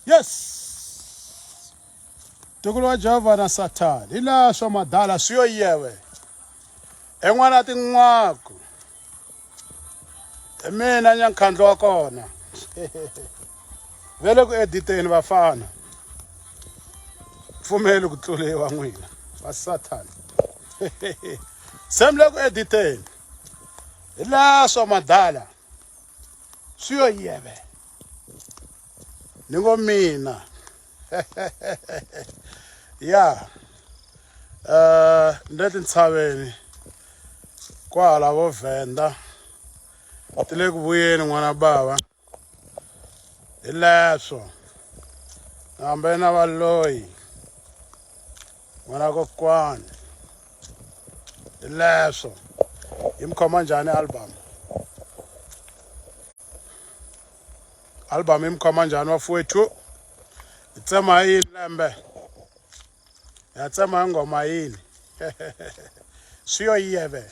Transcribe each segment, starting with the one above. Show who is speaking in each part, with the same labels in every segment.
Speaker 1: yes tukulu wa jehovha na sathana hi laha swa madala swi yo yewe en'wana tin'waku hi mina nyankhandlo wa kona ve le ku editeni vafana pfumeli ku tluriwa n'wina va sathana se mi le ku editeni hi laha swa madala swi yo yeve ni ngo mina ya um ni le tintshaveni kwahala vo vhenda ti le ku vuyeni n'wana bava hi leswo hambe na valoyi n'wana kokwani hi leswo yi mi khoma njhani album album yi mi khoma njhani wafuwethu hi tsema hi yini lembe ya tsema hi nghoma yini swi yo yiyeve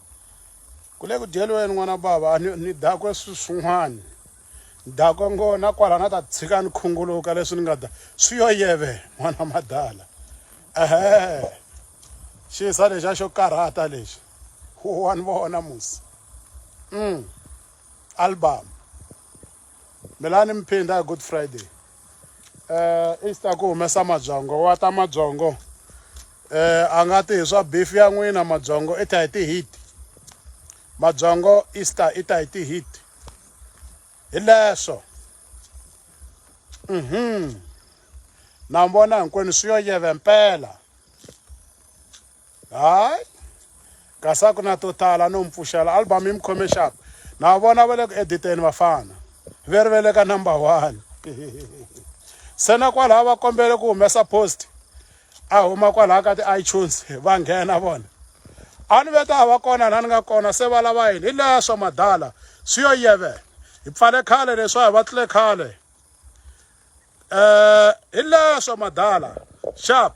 Speaker 1: Ku le ku dyeliweni n'wana bava ni, ni dakwe swin'wana ni dakwe ngo na kwala na ta tshika ni khunguluka leswi ni nga da swi yo yeve n'wana madala ehe xisa lexi a xo karhata lexi wa ni vona musi mm album Melani Mphinda hi Good Friday eh i ta ku humesa mabyongo wa ta mabyongo eh a nga ti hi swa beef ya n'wina mabyongo i ta hi ti-heat mabyongo easter i ta hi ti-heat hi leswo mhm na vona hinkwenu swi yo yeve mpela hayi kasi a ku na to tala no mi pfuxela album yi mi khome xap na vona va le ku editeni vafana ve ri ve le ka number one se na kwalaha va kombele ku humesa post a huma kwalaha ka ti-itunes va nghena vona a ni ve ta va kona na ni nga kona se va lava yini hi leya swa madala swi yo yeve hi pfale khale leswa hi va tlule khale um hi leya swa madala sharp